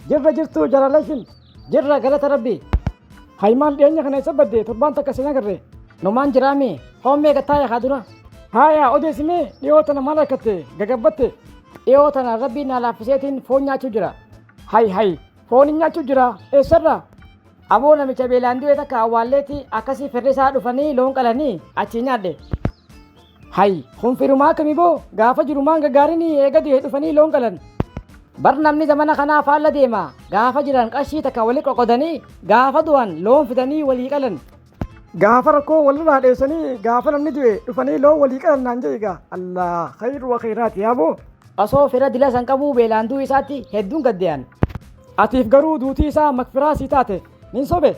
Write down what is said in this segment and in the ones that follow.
Jirra jirtu jalalashin jirra galata rabbi. Haymaan dhiyeenya kana isa badde torbaan takka sin agarre. Numaan jiraami hoomee gattaaya haa dura. Haaya odeessimee dhiyoo tana maal harkatte gagabbatte. Dhiyoo tana rabbiin naa laaffiseetiin foon nyaachuu jira. Hay hay foon hin nyaachuu jira eessarra. Aboo namicha beelaan du'e takka awwaalleetti akkasii firri isaa dhufanii loon qalanii achii nyaadhe. Hay, kun firumaa akkami boo? Gaafa jirumaan gaggaarini eega du'e dhufanii loon qalan. Bar namni zamana kanaa faalla deema. Gaafa jiran qarshii takka wali qoqodanii, gaafa du'an loon fidanii walii qalan. Gaafa rakkoo walirraa dheessanii gaafa namni du'e dhufanii loon walii qalan naan jedhe egaa. Allah, khayru wa khayraati yaa boo. Osoo fira dila san qabuu beelaan du'u isaatti hedduun gaddee'an. Atiif garuu duutii isaa makfiraa sii taate. Nin sobe.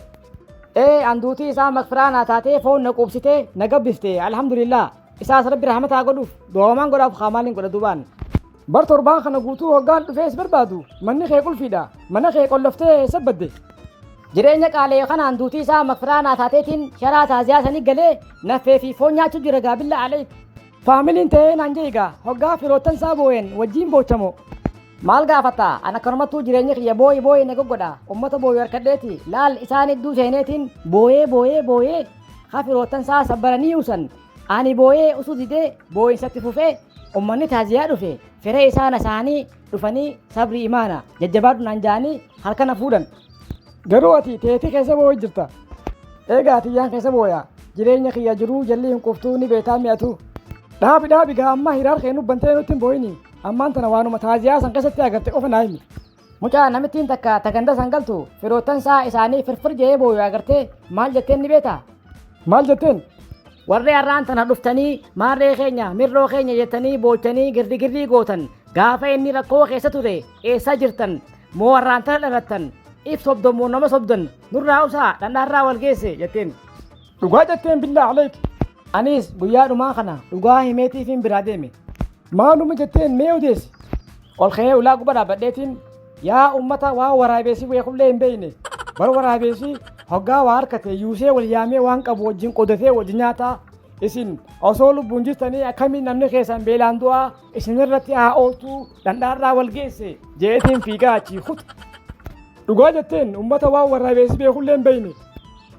Ee an duutii isaa makfiraa naa taatee foon na quubsitee na gabbifte alhamdulillah. Isaas rabbi rahmataa godhuuf du'oomaan godhaaf haa maaliin godha duubaan. Bar torbaan kana guutuu hoggaan dhufee si barbaadu manni kee qulfiidha mana kee qolloftee eessa badde. Jireenya qaalee kanaan duutii isaa makfiraa naa taateetiin sharaa taaziyaa sanii galee naffee fi foon nyaachuu jira gaabilla aleek. Faamiliin ta'ee naan jeegaa hoggaa firoottan isaa boo'een wajjiin boochamoo. Maal gaafatta? An akkanumattuu jireenyi kiyya booyi booyi na goggodha. Ummata booyu harkadheeti. Laal isaan hedduu seeneetiin booyee booyee booyee ha firoottan isaa sabbaranii usan. Ani booyee usuu didee booyinsatti fufee ummanni taaziyaa dhufe fira isaa nasaanii dhufanii sabrii imaana jajjabaadhu naan jaanii harka na fuudhan. Garuu ati teetii keessa booyi jirta. Eegaa ati yaan keessa booya. Jireenya kiyya jiruu jalli hin quftuu ni beetaa mi'atu. Dhaabi dhaabi gaa amma hiraar kee nubbantee nutti hin booyini. Ammaan tana waanuma taaziyaa san keessatti agarte qofa naa himi. Mucaa namittiin takka ta ganda san galtu firoottan isaa isaanii firfir jee booyu agartee maal jetteen ni beektaa? Maal jetteen? Warri har'aan tana dhuftanii maarree keenya mirroo keenya jettanii boochanii girdigirrii gootan gaafa inni rakkoo keessa ture eessa jirtan moo har'aan tana dhalattan if sobdon moo nama sobdan nurraa usaa dhandhaarraa wal geesse jetteen. Dhugaa jetteen billaa aleek. Anis guyyaa dhumaa kana dhugaa himeetiifiin biraa deeme. Maaluma jetteen mee odeessi. Ol ka'ee ulaa gubbaa dhaabbadheetiin yaa uummata waa waraabeessi weekullee hin beekne. Bar waraabeessi hoggaa waa harkate yuusee wal yaamee waan qabu wajjin qodatee wajjin nyaataa. Isin osoo lubbuun jirtanii akkamiin namni keessan beelaan du'aa isinirratti haa ooltuu dhandhaarraa wal geesse jeetiin fiigaa achii kuta. Dhugaa jetteen uummata waan waraabeessi beekullee hin beekne.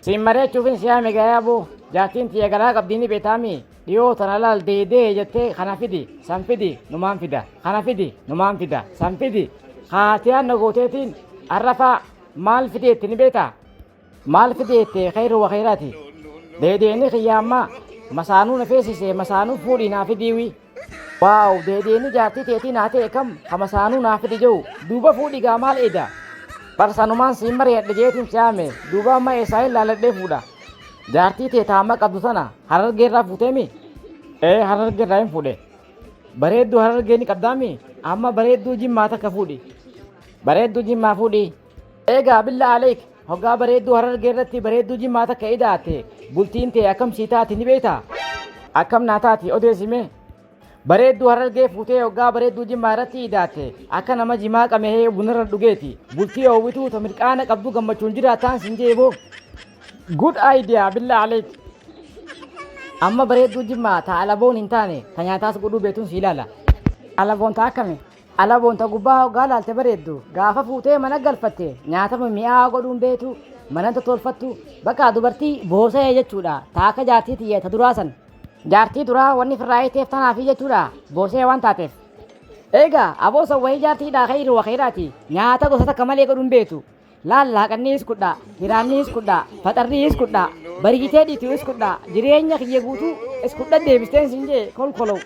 Siin mari'achuufin si yaame gaa yaaboo. Jaartiin tiyya garaa qabdii ni beetaami. Dhiyoo tana laal dee dee jettee kana fidi san fidi numaan fida kana fidi numaan fida san fidi kaatiyaan na gooteetiin arrafaa maal fidi jettee ni beetaa? Maal fidi jettee khayru wa khayraati. Deedeeni kiyya ammaa masaanuu na feesise masaanuu fuudhii naa fidiiwii. Waaw deebi'eenii jaartii teetii naa ta'e kam kama saanuu naa fidi jiru duuba fuudhi gaa maal eeda bar sanumaan siin mari'adhe jeetiin si'aame duuba amma eessaa hin laaladhee fuudha jaartii tee taama qabdu sana harargee irraa fuuteemi ee harargee irraa hin fuudhe bareedduu harargee ni qabdaami amma bareedduu jimmaa takka fuudhi bareedduu jimmaa fuudhi Eegaa billaa aleek hoggaa bareedduu harargee irratti bareedduu jimmaa takka ida'atte bultiin tee akkam sii taati ni beektaa? Akkam naa taati odeessi mee? Bareedduu harargee fuutee hoggaa bareedduu jimmaa irratti ida'atte akka nama jimaa qamehee bunarra dhugeeti bultii oowwituu ta mirqaana qabdu gammachuun jiraattaan sin jee boo. Good idea billaa aleek. Amma bareedduu jimmaa ta alaboon hin taane ta nyaataas godhuu beetun sii ilaala. Alaboon ta akkami? Alaboon ta gubbaa hoggaa laalte bareeddu, gaafa fuutee mana galfatte nyaata mimmi'aawaa godhuun beetu, manan tottolfattu, bakka dubartii boosayee jechuudha, ta akka jaartii tiyya ta duraa san. Jaartii duraa wanni firraa hiiteef tanaafi jechuudha, boosayee waan taateef. Eegaa, aboo san wahii jaartii hidhaa kayri wa kayraati, nyaata gosa takka malee godhuun beetu. Laallaa qanniis kudhaa, hiraanniis kudhaa, faxarriis kudhaa, bariitee dhiituuis kudhaa, jireenya kiyya guutuu is kudhan deebisteen siin jee kolkolow.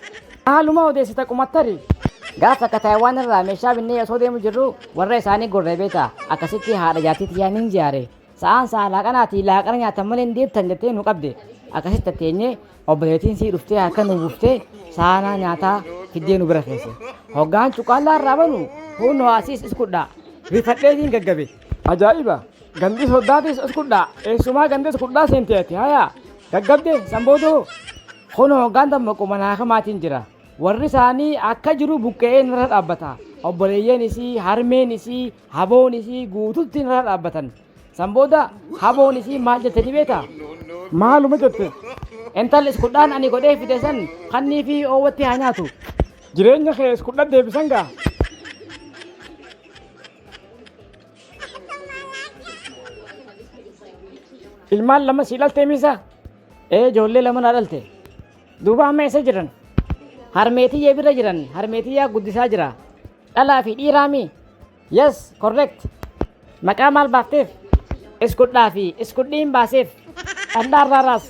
Maaluma odeessita qumattari? Gaaf takka Taayiwaan irraa meeshaa binnee osoo deemu jirruu warra isaanii gorree beektaa? Akkasitti haadha jaartii tiyyaa nin jaare. Sa'aan sa'a laaqanaatii laaqana nyaattan malee hin deebtan jettee nu qabde. Akkasitti teenyee Obboleettiin sii dhuftee harka nu buuftee saanaa nyaataa fiddee nu bira keesse. Hoggaan cuqqaallaa irraa banu huunnoo asiis is kudhaa. Rifadheetiin gaggabe. Ajaa'iba! Gandis hoddaatis is kudhaa. Eessumaa gandis kudhaa seentee ati hayaa. Gaggabde san booda hoo? Kunoo hoggaan dammaqu manaa kamaatiin jira. Warri isaanii akka jiru buqqe'ee narra dhaabbata. Obboleeyyan isii, harmeen isii, haboon isii guututti narra dhaabbatan. San booda haboon isii maal jette ni beektaa? Maaluma jette? Intalli iskudhaan ani godhee fide san kannii fi oowwatti haa nyaatu. Jireenya kee iskudhan deebisan gaa? Ilmaan lama sii dhaltee miisa? Ee ijoollee lama naa dhalte. Duuba amma eessa jiran? Harmeetiyyee bira jiran harmeetiyyaa guddisaa jira. Dhalaa fi dhiiraami? Yes, correct. Maqaa maal baafteef? Iskudhaa fi iskudhii hin baaseef. Dhandhaa irraa raas.